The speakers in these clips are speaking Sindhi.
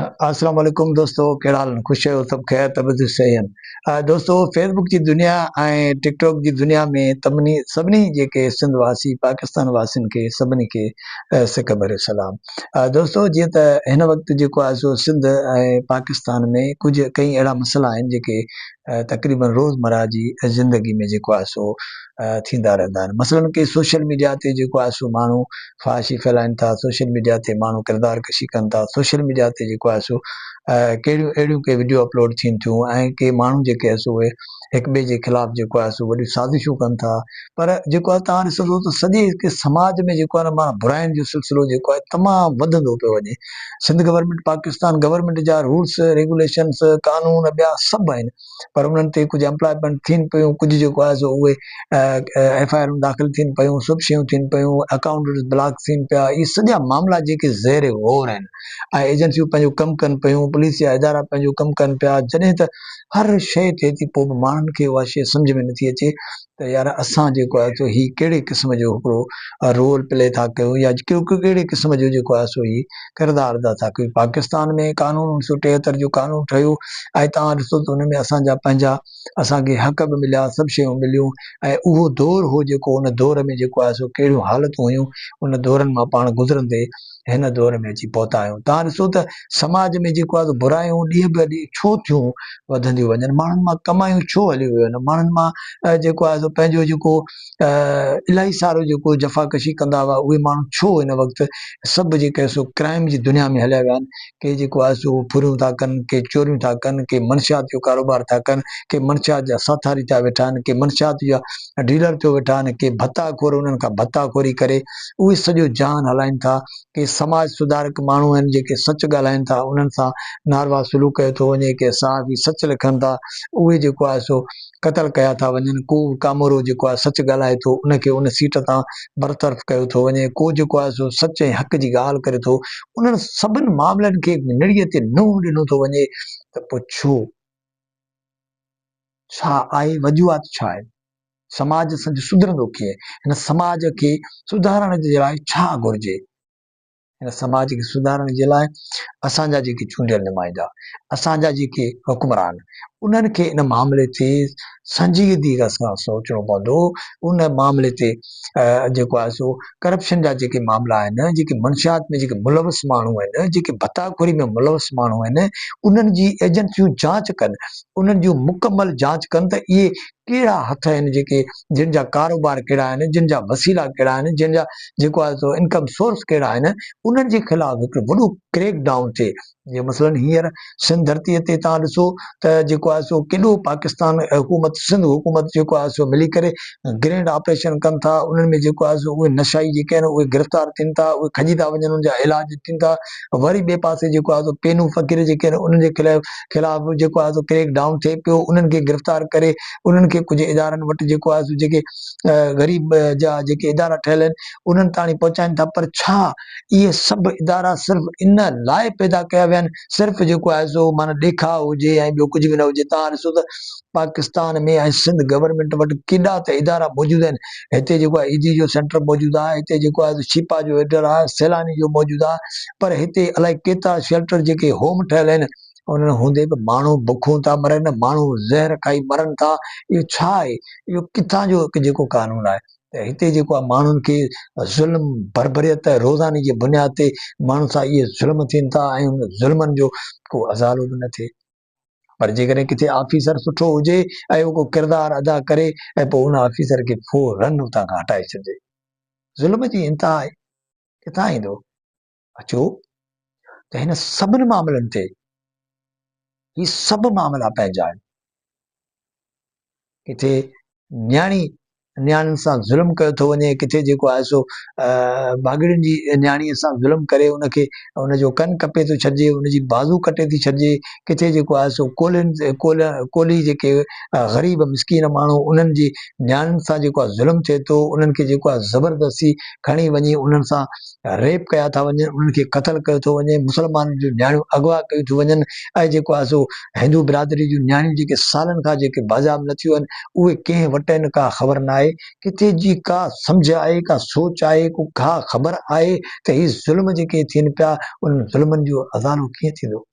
اسلام عليڪم دوستو ڪهڙا حال آهن خوش آهيو سڀ خير طبيعت جي صحيح آهن دوستو فيس بڪ جي دنيا ۽ ٽڪ ٽاڪ جي دنيا ۾ تمني سڀني جيڪي سنڌ واسي پاڪستان واسين کي سڀني کي سڪ ڀريو سلام دوستو جيئن ته هن وقت جيڪو آهي سو سنڌ ۽ پاڪستان ۾ ڪجهه ڪئين اهڙا مسئلا آهن جيڪي تقريبن روزمرا جي زندگي ۾ جيڪو آهي سو ٿيندا رهندا آهن مثلاً ڪي سوشل ميڊيا تي جيڪو آهي سو ماڻهو فحاشي ڦهلائين ٿا، سوشل ميڊيا تي ماڻهو ڪردار ڪشي ڪن ٿا، سوشل ميڊيا تي جيڪو آهي سو ڪهڙيون اهڙيون ڪي وڊيو اپلوڊ ٿين ٿيون ۽ ڪي ماڻهو جيڪي آهي سو اهي هڪ ٻئي جي خلاف جيڪو آهي سو وڏيون سازشون ڪن ٿا پر جيڪو آهي تان ڏسندو ته سڄي هڪ سماج ۾ جيڪو آهي ماڻهو براين جو سلسلو جيڪو آهي تمام وڌندو پيو وڃي سنڌ گورنمنٽ پاڪستان گورنمنٽ جا رولس ريگوليشنس قانون ٻيا سڀ آهن پر انهن تي ڪجهه امپلائمينٽ ٿين پيون ڪجهه جيڪو آهي سو اهي ايف آء آرون داخل ٿين پيون سڀ شيون ٿين پيون اڪائونٽ بلاڪ ٿين پيا اهي سڄا معاملا جيڪي زير غور آهن ۽ ايجنسيون پنهنجو ڪم ڪن پيون پوليس جا ادارا پنهنجو ڪم ڪن پيا جڏهن ته هر شيء ٿئي ٿي پوء به ماڻهن کي اها شيء سمجهه ۾ نٿي اچي ته يار اسان جيڪو آهي سو هي ڪهڙي قسم جو هڪڙو رول پلي ٿا ڪيون يا ڪهڙي قسم جو جيڪو آهي سو هي ڪردار ادا ٿا ڪيون. پاڪستان ۾ قانون اوڻ سؤ ٽيهتر جو قانون ٺهيو ۽ توهان ڏسو ته ان ۾ اسان جا پنهنجا اسان کي حق به مليا سڀ شيون مليون ۽ اهو دور هو جيڪو ان دور ۾ جيڪو آهي سو ڪهڙيون حالتون هيون ان دورن مان پاڻ گذرندي هن دور ۾ اچي پهتا آهيون. توهان ڏسو ته سماج ۾ جيڪو آهي سو برايون ڏينهن به ڏينهن ڇو ٿيون وڌنديون وڃن؟ ماڻهن مان ڪمايون ڇو هليون ويون آهن؟ ماڻهن مان جيڪو آهي سو پنهنجو جيڪو الاهي سارو جيڪو جفاڪشي ڪندا هئا اهي ماڻهو ڇو هن وقت سڀ جيڪي سو ڪرائيم جي دنيا ۾ هليا ويا آهن؟ ڪي جيڪو آهي سو ڦريون ٿا ڪن، ڪي چوريون ٿا ڪن، ڪي منشيات جو ڪاروبار ٿا ڪن، ڪي منشيات جا ساٿاري ٿيا ويٺا آهن، ڪي منشيات جا ڊيلر ٿيو ويٺا آهن، ڪي ڀتا خور انهن کان ڀتا خوري ڪري اهي سڄو جهان هلائين ٿا، ڪي سماج سڌارڪ ماڻهو آهن جيڪي سچ ڳالهائين ٿا انهن سان ناروا سلوڪ ڪيو ٿو وڃي، ڪي صحافي سچ لکن ٿا اهي جيڪو آهي سو قتل ڪيا ٿا وڃن، ڪو به ڪامورو جيڪو آهي سچ ڳالهائي ٿو ان کي ان سيٽ تان برطرف ڪيو ٿو وڃي، ڪو جيڪو آهي سو سچ ۽ حق جي ڳالهه ڪري ٿو، انهن سڀن معاملن کي نڙيء تي نوح ڏنو ٿو وڃي ته پوء ڇو؟ ڇا آهي وجوهات ڇا آهن؟ سماج سنج سڌرندو ڪيئن؟ هن سماج کي سڌارڻ جي لاء ڇا گهرجي؟ هن سماج کي سڌارڻ جي لاء اسان جا جيڪي چونڊيل نمائندا، اسان جا جيڪي حڪمران، انهن کي ان معاملي تي سنجيدگيء سان سوچڻو پوندو. ان معاملي تي جيڪو آهي سو ڪرپشن جا جيڪي معاملا آهن، جيڪي منشيات ۾ جيڪي ملوث ماڻهو آهن، جيڪي ڀتا خوري ۾ ملوث ماڻهو آهن، انهن جي ايجنسيون جاچ ڪن، انهن جون مڪمل جاچ ڪن ته اهي ڪهڙا هٿ آهن جيڪي جن جا ڪاروبار ڪهڙا آهن جن جا وسيلا ڪهڙا آهن جن جا جيڪو آهي سو انڪم سورس ڪهڙا آهن انهن جي خلاف هڪڙو وڏو ڪريڪ ڊائون ٿئي جي مثلا هينئر سنڌ ڌرتي تي تان ڏسو ته جيڪو آهي سو ڪيڏو پاڪستان حڪومت سنڌ حڪومت جيڪو آهي سو ملي ڪري گرينڊ آپريشن ڪن ٿا انهن ۾ جيڪو آهي سو اهي نشائي جيڪي آهن اهي گرفتار ٿين ٿا اهي کڄي ٿا وڃن ان جا علاج ٿين ٿا وري ٻئي پاسي جيڪو آهي سو پينهون فقير جيڪي آهن انهن جي خلاف خلاف به جيڪو آهي سو ڪريڪ ڊائون ٿئي پيو انهن کي گرفتار ڪري انهن کي ڪجهه ادارن وٽ جيڪو آهي سو جيڪي غريب جا جيڪي ادارا ٺهيل آهن انهن تاڻي پهچائين ٿا پر ڇا اهي سڀ ادارا صرف ان لاء پيدا ڪيا ويا آهن صرف جيڪو آهي سو معنيٰ ڏيکاء هجي ۽ ٻيو ڪجهه به نه هجي تان ڏسو ته پاڪستان ۾ ۽ سنڌ گورنمينٽ وٽ ڪيڏا ته ادارا موجود آهن. هتي جيڪو آهي ايڌي جو سينٽر موجود آهي، هتي جيڪو آهي شيپا جو ايڊر آهي، سيلاني جو موجود آهي پر هتي الائي ڪيترا شيلٽر جيڪي هوم ٺهيل آهن انهن هوندي به ماڻهو بکون ٿا مرن، ماڻهو زهر کائي مرن ٿا اهو ڇا آهي؟ اهو ڪٿان جو جيڪو قانون آهي ته هتي جيڪو آهي ماڻهن کي ظلم بربريت روزاني جي بنياد تي ماڻهن سان اهي ظلم ٿين ٿا ۽ انهن ظلمن جو ڪو ازالو به نه ٿئي. پر جيڪڏهن ڪٿي آفيسر سٺو هجي ۽ هو ڪو ڪردار ادا ڪري ۽ پوء ان آفيسر کي فورن اتان کان هٽائي ڇڏجي. ظلم جي انتها آهي. ڪٿان ايندو؟ اچو ته هن سڀني معاملن تي هي سڀ معاملا پنهنجا آهن. ڪٿي نياڻي نياڻين سان ظلم ڪيو ٿو وڃي ڪٿي جيڪو آهي سو ڀاڳڙين جي نياڻي سان ظلم ڪري ان کي ان جو ڪن ڪپي ٿو ڇڏجي ان جي بازو ڪٽي ٿي ڇڏجي ڪٿي جيڪو آهي سو ڪولهين ڪولهي جيڪي غريب مسڪين ماڻهو انهن جي نياڻين سان جيڪو آهي ظلم ٿئي ٿو انهن کي جيڪو آهي زبردستي کڻي وڃي انهن سان ريپ ڪيا ٿا وڃن، انهن کي قتل ڪيو ٿو وڃي، مسلمانن جون نياڻيون اغوا ڪيون ٿيون وڃن ۽ جيڪو آهي سو هندو برادري جون نياڻيون جيڪي سالن کان جيڪي بازياب نه ٿيون آهن اهي ڪنهن وٽ آهن ڪا خبر نه آهي، ڪٿي جي ڪا سمجهه آهي ڪا سوچ آهي ڪو ڪا خبر آهي ته هي ظلم جيڪي ٿين پيا انهن ظلمن جو ازالو ڪيئن ٿيندو؟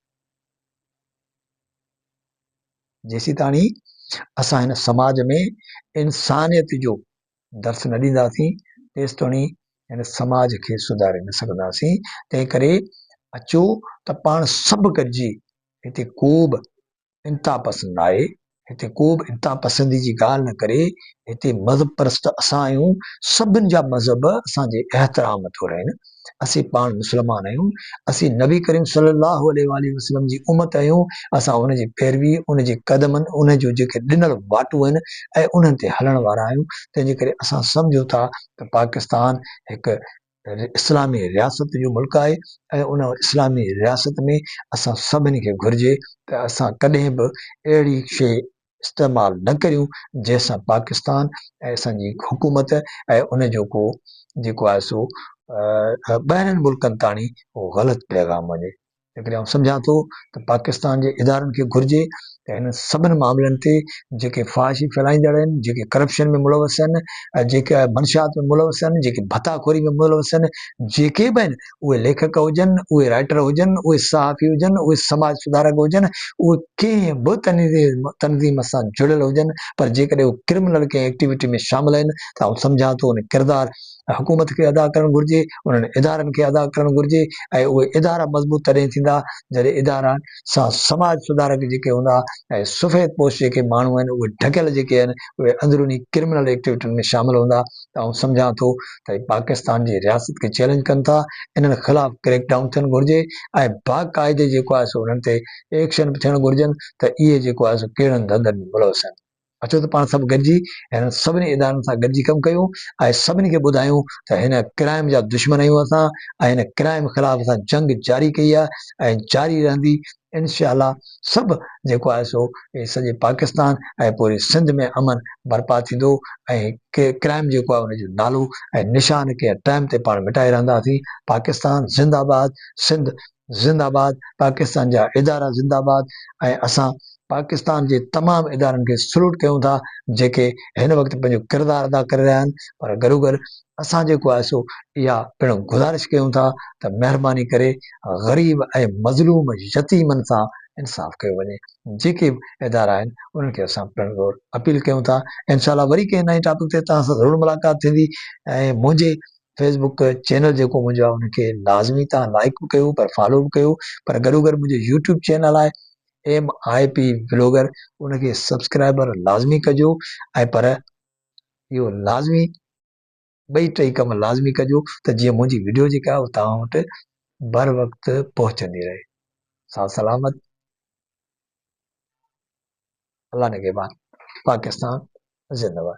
جيسيتاڻي اسان هن سماج ۾ انسانيت جو درس نه ڏينداسين تيستوڻي هن سماج کي سڌاري نه سگهنداسين تنهن ڪري اچو ته پاڻ سڀ گڏجي هتي ڪو به انتها پسند نه آهي هتي ڪو به انتها پسندي جي ڳالهه نه ڪري هتي مذهب پرست اسان آهيون سڀن جا مذهب اسان جي احترام ٿورهين اسين پاڻ مسلمان آهيون، اسين نبي ڪريم صلّي اللّٰه عليه واٰله وسلّم جي امّت آهيون، اسان ان جي پيروي، ان جي قدمن، ان جون جيڪي ڏنل واٽون آهن ۽ انهن تي هلڻ وارا آهيون، تنهن جي ڪري اسان سمجهون ٿا ته پاڪستان هڪ اسلامي رياست جو ملڪ آهي ۽ ان اسلامي رياست ۾ اسان سڀني کي گهرجي ته اسان ڪڏهن به اهڙي شيء استعمال نه ڪريون جنهن سان پاڪستان ۽ اسان جي حڪومت ۽ ان جو ڪو جيڪو آهي سو ٻاهرين ملڪن تاڻي ڪو غلط پيغام وڃي ان ڪري آئون سمجهان ٿو ته پاڪستان جي ادارن کي گهرجي ته هن سڀني معاملن تي جيڪي فحاشي ڦهلائيندڙ آهن جيڪي ڪرپشن ۾ ملوث آهن جيڪي منشيات ۾ ملوث آهن جيڪي ڀتا خوري ۾ ملوث آهن جيڪي به آهن اهي ليکڪ هجن، اهي رائٽر هجن، اهي صحافي هجن، اهي سماج سڌارڪ هجن، اهي ڪنهن به تنظيم سان جڙيل هجن پر جيڪڏهن اهي ڪرمنل ڪنهن ايڪٽيوٽي ۾ شامل آهن ته آئون سمجهان ٿو ان ڪردار حڪومت کي ادا ڪرڻ گهرجي، انهن ادارن کي ادا ڪرڻ گهرجي ۽ اهي ادارا مضبوط تڏهن ٿيندا جڏهن ادارن سان سماج سڌارڪ جيڪي هوندا ۽ سفيد پوش جيڪي ماڻهو آهن اهي ڍڪيل جيڪي آهن اهي اندروني ڪرمنل ايڪٽيوٽين ۾ شامل هوندا ته آئون سمجهان ٿو ته اهي پاڪستان جي رياست کي چئلينج ڪن ٿا، انهن خلاف ڪريڪ ڊائون ٿيڻ گهرجي ۽ باقاعدي جيڪو آهي سو انهن تي ايڪشن به ٿيڻ گهرجن ته اهي جيڪو آهي سو ڪهڙن ڌنڌن ۾ ملوث آهن. اچو ته پاڻ سڀ گڏجي هنن سڀني ادارن سان گڏجي ڪم ڪيون ۽ سڀني کي ٻڌايون ته هن ڪرائم جا دشمن آهيون اسان ۽ هن ڪرائم خلاف اسان جنگ جاري ڪئي آهي ۽ جاري رهندي انشاءالله سڀ جيڪو آهي سو سڄي پاڪستان ۽ پوري سنڌ ۾ امن برپا ٿيندو ۽ ڪرائيم جيڪو آهي ان جو نالو ۽ نشان ڪنهن ٽائيم تي پاڻ مٽائي رهنداسين پاڪستان زنده آباد سنڌ زنده آباد پاڪستان جا ادارا زنده آباد ۽ اسان پاڪستان جي تمام ادارن کي سلوٽ ڪيون ٿا جيڪي هن وقت پنهنجو ڪردار ادا ڪري رهيا آهن پر گڏوگڏ اسان جيڪو آهي سو اها پڻ گذارش ڪيون ٿا ته مهرباني ڪري غريب ۽ مظلوم يتيمن سان انصاف ڪيو وڃي جيڪي به ادارا آهن انهن کي اسان پڻ زور اپيل ڪيون ٿا انشاء الله وري ڪنهن نئين ٽاپڪ تي توهان سان ضرور ملاقات ٿيندي ۽ منهنجي فيس بڪ چينل جيڪو منهنجو آهي ان کي لازمي تان لائڪ به ڪيو پر فالو به ڪيو پر گڏو گڏ منهنجو يوٽيوب چينل آهي ايم آء پي بلاگر ان کي سبسڪرائبر لازمي ڪجو ۽ پر اهو لازمي ٻئي ٽئي ڪم لازمي ڪجو ته جيئن منهنجي وڊيو جيڪا آهي توهان وٽ بر وقت پهچندي رهي ساز سلامت الله نگهبان پاڪستان زندباد